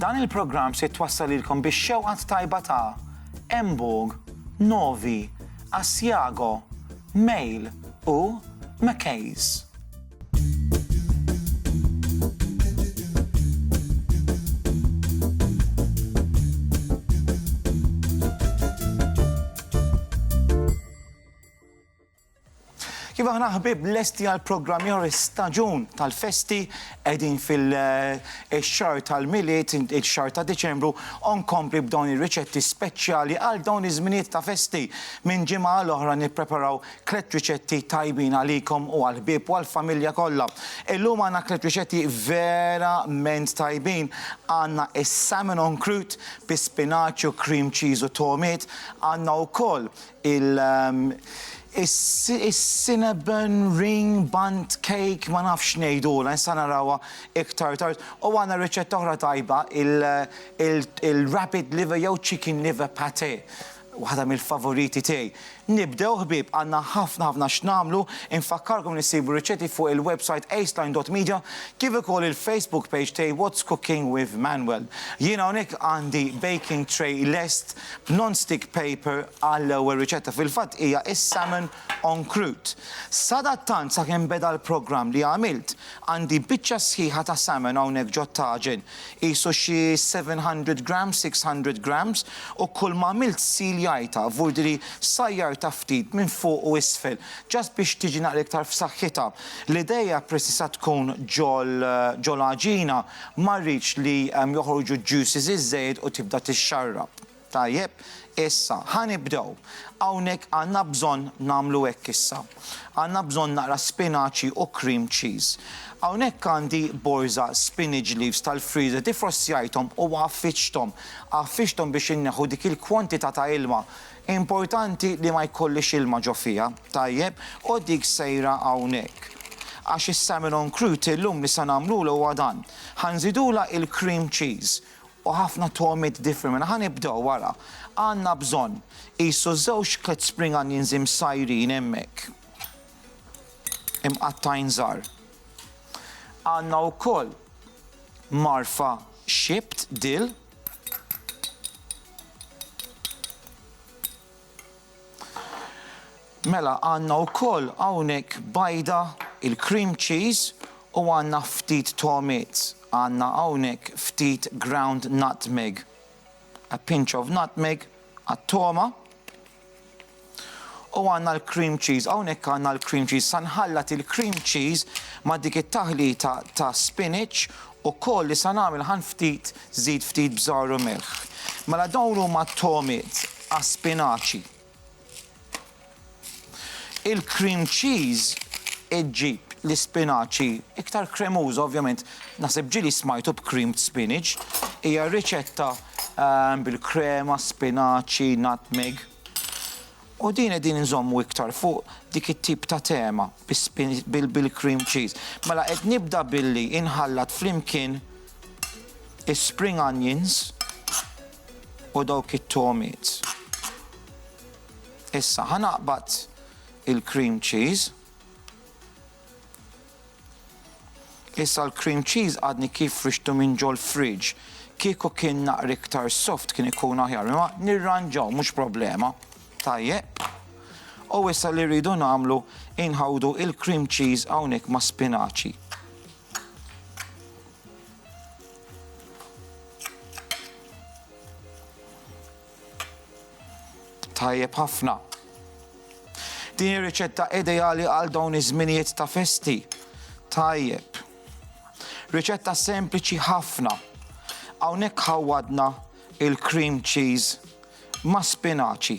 Dan il-programm se jitwassal ilkom biex xewqat tajba ta' Embog, Novi, Asiago, Mail u McKay's. Kif aħna ħbib lesti għal programm jew staġun tal-festi qegħdin fil-xar eh, tal-miliet, il-xar ta' Deċembru, onkompli b'dawn ir-riċetti speċjali għal dawn iż-żminijiet ta' festi. Minn ġimgħa l-oħra nippreparaw Tliet riċetti tajbin għalikom u għall-ħbieb u għall-familja kollha. Illum għandna tliet riċetti verament tajbin. Għandna is-salmon en croute bi spinaċ u cream cheese u togħmiet. Għandna wkoll il- is-cinnabon ring bundt cake ma nafx x'ngħidulha, nistgħu narawha iktar tard. U għandna riċetta oħra tajba, il-rabbit liver jew chicken liver pate. waħda mill-favoriti tiegħi. Nibdew ħbieb, għandna ħafna ħafna x'nagħmlu, infakkarkom li ssibu r-riċetti fuq il-websajt aceline dot media kif ukoll il-Facebook page tiegħi What's Cooking with Manuel. Jien hawnhekk għandi baking tray lest b'non-stick paper għall-ewwel riċetta, fil-fatt hija s-salmon en croute. Sadattant sakemm beda l-programm li għamilt, għandi biċċa sħiħa ta' salmon hawnhekk ġot-taġen, qisu xi seven hundred grams, six hundred grams, u kull m'għamilt siljajtha, vuol dire sajjartha ftit minn fuq u isfel, just biex tiġi naqra iktar f'saħħitha. L-idea preċiża tkun ġol ġol-għaġina, ma rridx li joħorġu juices iżżejjed u tibda tixxarrab. Tajjeb, issa, ħa nibdew. Hawnhekk għandna bżonn nagħmlu hekk issa. Għandna bżonn naqra spinaċi u cream cheese. Hawnhekk għandi borża spinach leaves tal-freezer, tifrossjajthom u għaffiġthom. Għaffiġthom biex inneħħu dik il-kwantità ta' ilma. Importanti li ma jkollhiex ilma ġo fiha, tajjeb? U dik sejra hawnhekk. Għax is-salmon on croute illum li se nagħmlulha huwa dan. Ħa nżidulha il-cream cheese. u ħafna togħmiet differenti minna. Ħa nibdew wara. Għandna bżonn qisu żewġ qlett spring onions imsajrin hemmhekk, imqattgħin żgħar. Għandna wkoll mgħarfa chipped, dill. Mela għandna wkoll hawnhekk bajda, il-cream cheese u għandna ftit togħmiet. Għandna hawnhekk ftit ground nutmeg, a pinch of nutmeg għat-togħma. U għandna l-cream cheese, hawnhekk għandna l-cream cheese. Sa nħallat il-cream cheese ma' dik it-taħlita ta' spinach Ukoll li sa nagħmel ħan ftit żid ftit bżar u milħ. Mela dawn huma t-togħmiet għas-spinaċi. Il-cream cheese iġġib l-ispinaċi iktar kremuża ovvjament naħseb ġieli smajtu b'creamed spinach. Hija riċetta bil-krema, spinaċi, nutmeg. U din qegħdin inżommu iktar fuq dik it-tip ta' tema bil-cream cheese. Mela qed nibda billi inħallat flimkien is-spring onions u dawk it-togħmiet. Issa ħa naqbad il-cream cheese. Issa l-cream cheese għadni kif frixtu minn ġol fridge. Kieku kien naqra iktar soft kien ikun aħjar, imma nirranġaw mhux problema. Tajjeb. U issa li rridu nagħmlu inħawdu il-cream cheese hawnhekk ma' spinaċi. Tajjeb ħafna! Din hi riċetta ideali għal dawn iż-żminijiet ta' festi. Tajjeb. Riċetta sempliċi ħafna. Hawnhekk ħawwadna il-cream cheese ma' spinaċi.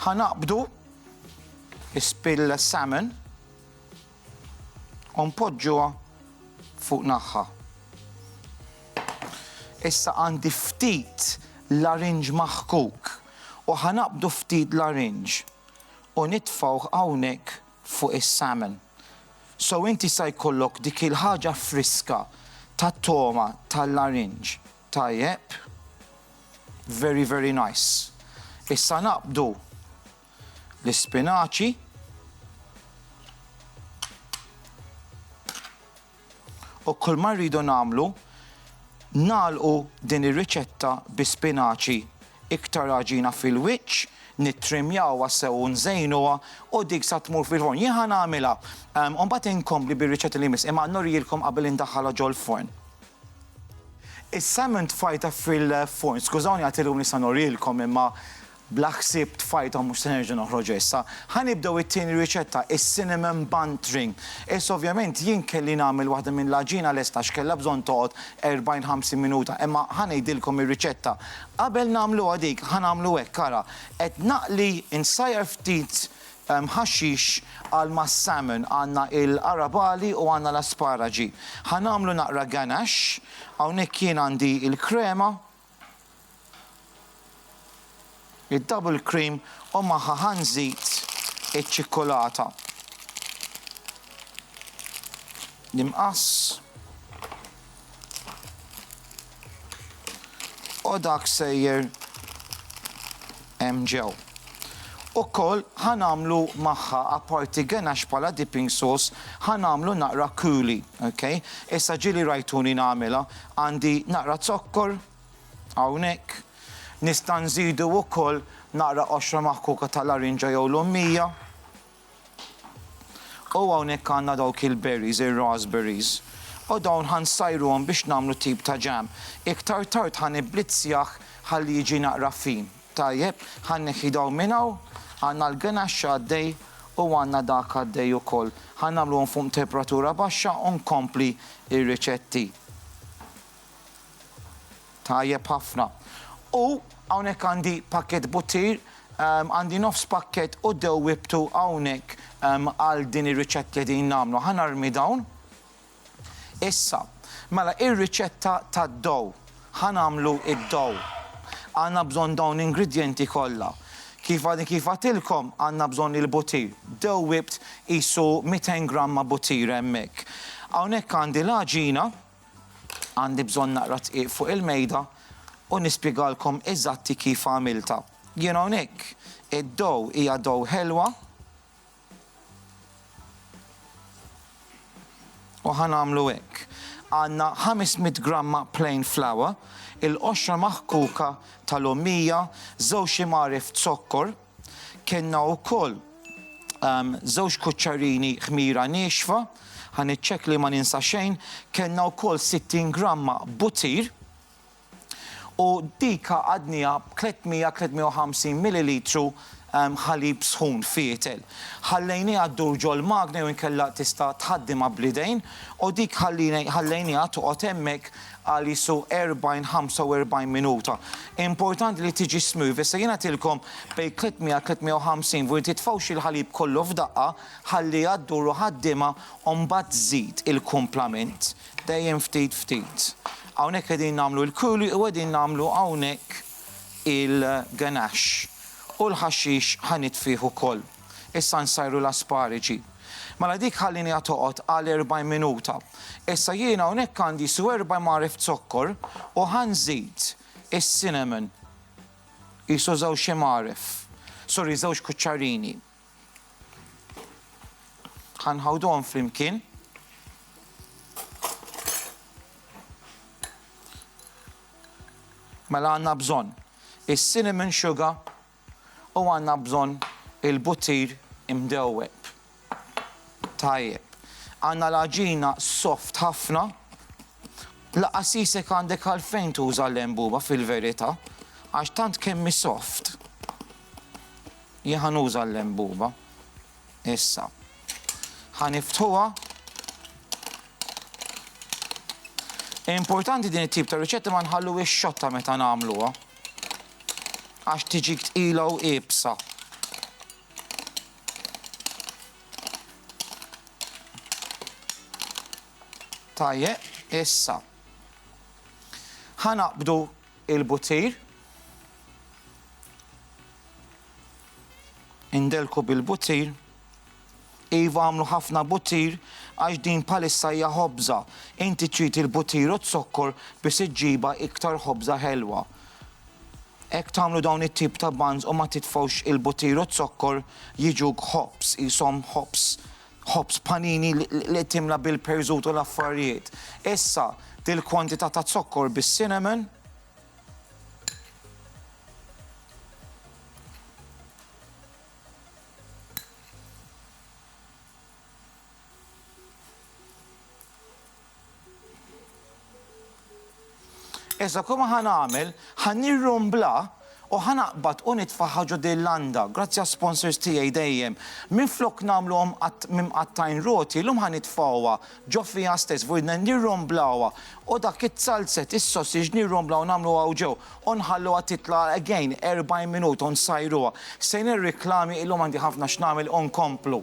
Ħanaqbdu ispil salmon u npoġġuha fuq naħħa. Issa għandi ftit larinġ maħkuk u ħanaqbdu ftit larinġ u nitfawh hawnhekk fuq is-salmon. So inti sa jkollok dik il-ħaġa friska tat-togħma tal-larinġ tajjeb. Very very nice. Issa naqbdu l-ispinaċi. U kull ma rridu nagħmlu nagħlqu din ir-riċetta bi spinaċi iktar għaġina fil-wiċċ, nittrimjawha sew u nżejnuha u dik sa tmur fil-forn. Jien ħa nagħmilha u mbagħad inkompli bir-riċetta li jmiss imma għad norijilkom qabel indaħħalha ġol-forn. Is-salmon tfajta fil-forn, skużawni għad illum nista' norijilkom imma Bla ħsieb tfajta mhux se nerġa' noħroġha issa. Ħa nibdew it-tieni riċetta, is-cinnamon bun trin. Issa ovvjament jien kelli nagħmel waħda minn l-għaġina lesta għax kellha bżonn toqgħod erbgħin ħamsin minuta imma ħa ngħidilkom ir-riċetta. Qabel nagħmluha dik ħa nagħmlu hekk, ara, qed naqli nsajjar ftit ħaxix għal mas-salmon, għandna l-qarabagħli u għandna l-asparaġi. Ħa nagħmlu naqra ganache, hawnhekk jien għandi l-krema, id-double cream u magħha ħa nżid iċ-ċikkulata, l-imqass u dak sejjer hemm ġew. Ukoll ħa nagħmlu magħha apparti genax bħala dipping sauce ħa nagħmlu naqra coulis, ok. Issa ġieli rajtuni nagħmilha, għandi naqra zokkor hawnhekk, nista' nżidu ukoll naqra qoxra maħkuka ta' larinġa jew l-ummija, U hawnhekk għandna dawk il-berries, ir-raspberries. U dawn ħa nsajruhom biex nagħmlu tip ta' jam. Iktar tard ħa nibblizzjah ħalli jiġi naqra fin. Tajjeb, ħa nneħħi dawn minn hawn. Għandna l-ganache għaddej u għandna dak għaddej ukoll. Ħa nagħmluhom fuq tempratura baxxa u nkompli r-riċetti. Tajjeb ħafna. U hawnhekk għandi pakkett buttir, għandi nofs pakkett u dewwibtu hawnhekk għal din ir-riċetta li qegħdin nagħmlu. Ħa narmi dawn. Issa, mela ir-riċetta tad-dough. Ħa nagħmlu d-dough. Għandna bżonn dawn l-ingredjenti kollha. Kif għadni kif għadtilkom għandna bżonn il-buttir. Dewwibt qisu 200 gramma buttir hemmhekk. Hawnhekk għandi l-għaġina. Għandi bżonn naqra tqiegħ fuq il-mejda u nispjegalkom eżatti kif għamiltha. Jien hawnhekk id-dough hija dough ħelwa u ħa nagħmlu hekk. Għandna 500 gramma plain flour, il-qoxra maħkuka tal-ummija, żewġ imgħaref zokkor, Kellna wkoll żewġ kuċċarini ħmira niexfa, ħa niċċekk li ma ninsa xejn, kellna wkoll 60 gramma butir u dika qgħadniha b'300, 350 millilitru ħalib sħun fietel. Ħallejniha ddur ġol-magna jew inkella tista' tħaddimha bl-idejn u dik ħallejniha toqgħod hemmhekk għal qisu 40, 45 minuta. Importanti li tiġi smooth. Issa jien għatilkom bejn 300, 350 vuri titfgħux il-ħalib kollu f'daqqa, ħalliha ddur u ħaddiemha u mbagħad żid il-kumplament dejjem ftit ftit. Hawnhekk qegħdin nagħmlu l-curly u qegħdin nagħmlu hawnhekk il-ganache u l-ħaxix ħa nitfih ukoll. Issa nsajru l-aspariġi. Mela dik ħallinha toqgħod għal erbgħin minuta. Issa jiena hawnhekk għandi su erbgħin magħref zokkor u ħa nżid is-cinnamon. Qisu żewġ imgħaref. Sorry, żewġ kuċċarini. Ħa nħawduhom flimkien. Mela għandna bżonn is-cinnamon sugar u għandna bżonn il-buttir imdewweb. Tajjeb. Għandna l-għaġina soft ħafna. Laqas isek għandek għalfejn tuża l-enbuba fil-verità għax tant kemm hi soft. Jien ħa nuża l-enbuba. Issa. Ħa niftħuha Importanti din it-tip ta' riċetta ma nħallu ix-xotta meta nagħmluha. għax tiġik tqila u iebsa. Tajjeb, issa. Ħanaqbdu il-butir. Indelku bil-butir Iva għamlu ħafna buttir għax din bħalissa hija ħobża. Inti trid il-buttir u z-zokkor biss iġġibha iktar ħobża ħelwa. Hekk tagħmlu dawn it-tip ta' buns u ma titfgħux il-buttir u z-zokkor jiġuk ħobż qishom ħobż ħobż panini li timla bil-perżut u l-affarijiet. Issa dil-kwantità ta' zokkor biz-cinnamon. Issa kum ħa nagħmel, ħa nirrumbla u ħa naqbad u nitfaħħa ġo din l-għanda, grazzi għas sponsors tiegħi dejjem. Minflok nagħmluhom mimqattajn roti, llum ħa nitfgħuha Ġo fiha stess, f'widna, nirromblawha, u dak it-salzet, is-sausage, nirromblawh nagħmluh hawn ġew, u nħalluha titla' again, 40 minuta, u nsajruha. Sejna r-riklami, illum għandi ħafna x'nagħmel, u nkomplu.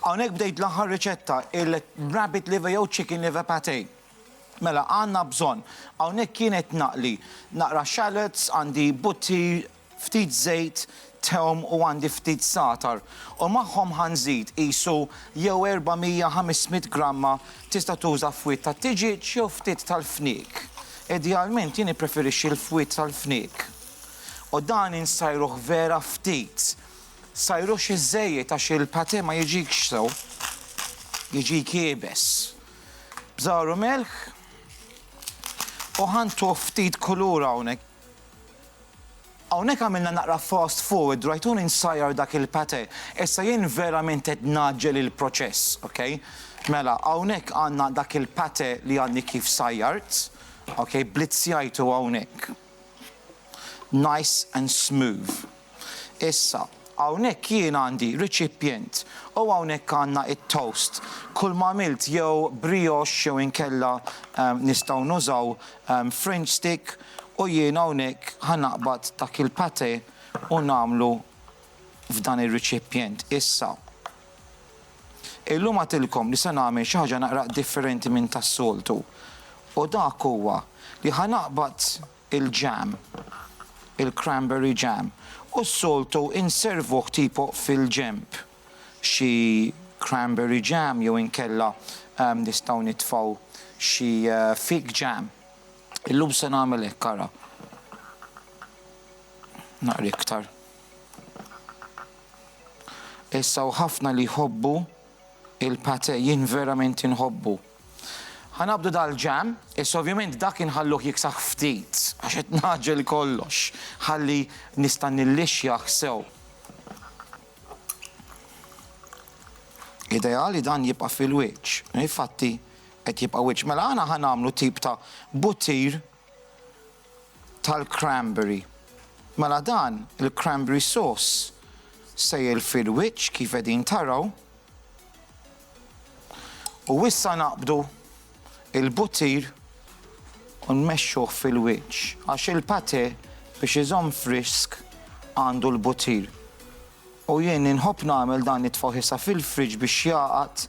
Hawnhekk bdejt l-aħħar riċetta, il-rabbit liver jew chicken liver pate. Mela, għandna bżonn. Hawnhekk kienet naqli naqra shallots, għandi butti, ftit żejt, tewm u għandi ftit zagħtar u magħhom ħa nżid qisu jew 400, 500 gramma tista' tuża fwied tat-tiġieġ jew ftit tal-fniek. Idealment jien nippreferixxi l-fwied tal-fniek. U dan insajruh vera ftit. Sajrux iżżejjed għax il-pate ma jiġikx sew. Jiġik iebes. Żgħar u melħ u ħa ntuh ftit kulur hawnhekk. Hawnhekk għamilna naqra fast forward rajtuni nsajjar dak il-pate. Issa jien verament qed ngħaġġel il-proċess, ok? Mela, hawnhekk għandna dak il-pate li għadni kif sajjart, ok, blizzjajtu hawnhekk. Nice and smooth. Issa, hawnhekk jien għandi riċipjent u hawnhekk għandna t-toast. Kull ma għamilt jew brioche jew inkella nistgħu nużaw French stick u jien hawnhekk ħa naqbad dak il-pate u nagħmlu f'dan ir-riċipjent. Issa, illum għadtilkom li se nagħmel xi ħaġa naqra differenti minn tas-soltu u dak huwa li ħa naqbad il-jam, il-cranberry jam, u s-soltu inservuh tipo fil-ġenb, xi cranberry jam jew inkella nistgħu nitfgħu xi fig jam. Illum se nagħmel hekk, ara. Naqra iktar. Issa hawn ħafna li jħobbu il-pate, jien verament inħobbu. Ħa naqbdu dal-jam, issa ovvjament dak inħalluh jiksaħ ftit għax qed nagħġel kollox ħalli nista' nillixxjah sew. L-idea li dan jibqa' fil-wiċċ, infatti qed jibqa' wiċċ. Mela aħna ħa nagħmlu tip ta' buttir tal-cranberry. Mela dan il-cranberry sauce sejl fil-wiċċ kif qegħdin taraw. U issa naqbdu l-buttir u nmexxuh fil-wiċċ għax il-pate biex iżomm frisk għandu l-buttir. U jien inħobb nagħmel dan nitfgħuħisa fil-fridge biex jagħqad,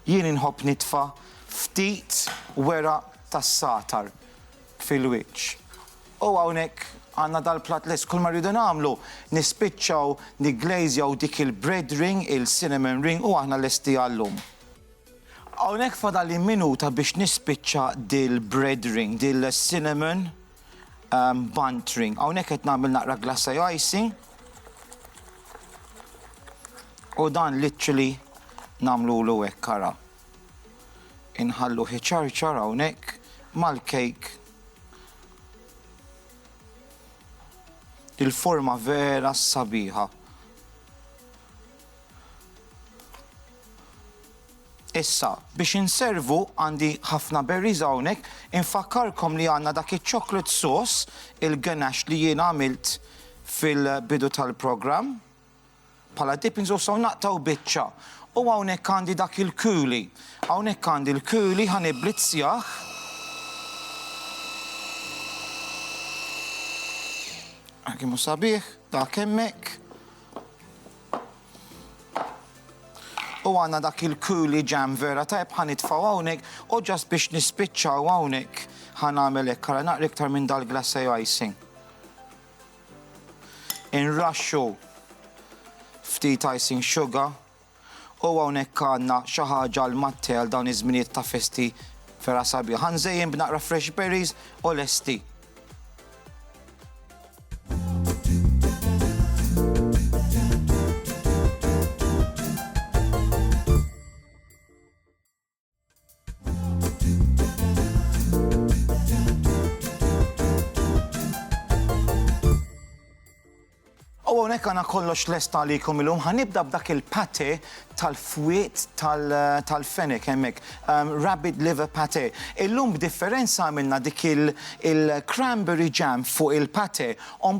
jien inħobb nitfa' ftit weraq tas-sagħtar fil-wiċċ. U hawnhekk għandna dal-platt lest. Kull ma rridu nagħmlu nispiċċaw nigglazjaw dik il-bread ring, il-cinnamon ring u aħna lesti għal-lum. Hawnhekk fadalli minuta biex nispiċċa dil-bread ring, dil-cinnamon bunt ring. Hawnhekk qed nagħmel naqra glacé icing. U dan literally nagħmlulu hekk ara. Inħalluh iċarċar hawnhekk mal-cake Il-forma vera sabiħa. Issa, biex inservu għandi ħafna berries hawnhekk, infakkarkom li għandna dak iċ-chocolate sauce, il-ganache li jien għamilt fil-bidu tal-programm. Bħala tip insossgħu naqtgħu biċċa. U hawnhekk għandi dak il-kuli. Hawnhekk għandi l-kuli ħa nibblizzjah. Ara kemm hu sabiħ, dak hemmhekk. U għandna dak il-kuli ġam vera tajb ħa nitfgħu hawnhekk u ġast biex nispiċċaw hawnhekk ħa nagħmel hekk ara naqra iktar minn dal-glacé icing. Inraxxu ftit icing sugar u hawnhekk għandna xi ħaġa għal Matte għal dawn iż-żminijiet ta' festi vera sabiħa. Nżejjen b'naqra fresh berries u lesti. U għonek għana kollox lesta għalikom il-lum, għanibda b'dak il-pate tal-fwiet tal-fenek hemmek, um, rabbit liver pate. Il-lum b'differenza għamilna dik il-cranberry jam fuq il-pate,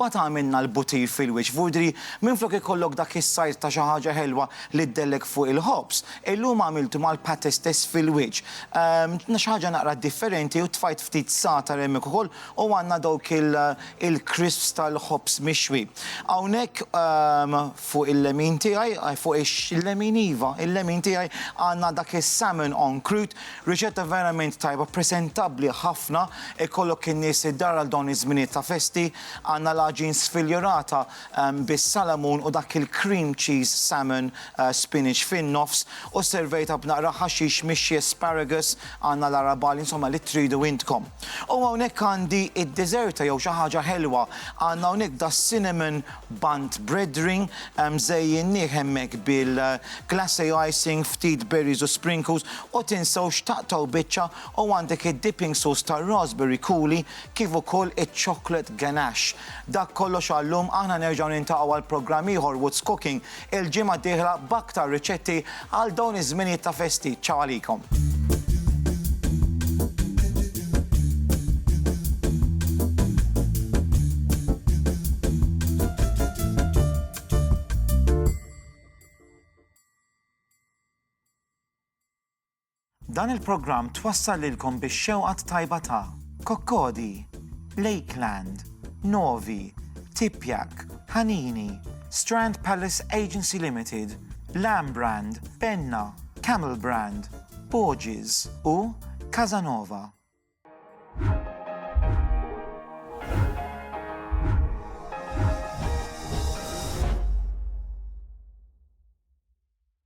bat għamilna l-butir fil-wiċ, vurdri minn flok ikollok dak il-sajt ta' xaħġa ħelwa li d-dellek fuq il-ħobs, Illum għamiltu mal-pate stess fil-wiċċ. Għamilna xi ħaġa naqra differenti u tfajt ftit zagħtar hemmhekk ukoll u għandna dawk il-crisps tal-ħobż mixwi. Hawnhekk fuq il-lemin tiegħi, fuq il-lemin iva, il-lemin tiegħi għandna dak is-salmon en croute, riċetta verament tajba, presentabbli ħafna, ikollok in-nies id-dar għal dawn iż-żminijiet ta' festi, għandna l-għaġin sfiljurata bi salamun u dak il-cream cheese salmon spinach fin-nofs u sservejtha b'naqra ħaxix mixi asparagus, għandna l-arrabal, insomma li tridu intkom. U hawnhekk għandi id-deżerta jew xi ħaġa ħelwa, għandna hawnhekk das-cinnamon bunt bread ring, żejjinnieh hemmhekk bil-glacé icing, ftit berries u sprinkles u tinsewx taqtgħu biċċa u għandek id-dipping sauce tar-raspberry coulis kif ukoll iċ-chocolate ganache. Dak kollox għal-lum, aħna nerġgħu niltaqgħu għal programm ieħor Woods Cooking il-ġimgħa d-dieħla b'aktar riċetti għal dawn iż-żminijiet ta' festi. Ċaw għalikom. Dan il-programm twassal lilkom bix-xewqa t-tajba ta' Kokkodi, Lakeland, Novi, Tipjak, Ħanini, Strand Palace Agency Limited, Lamb Brand, Benna, Camel Brand, Borges u Casa Nova.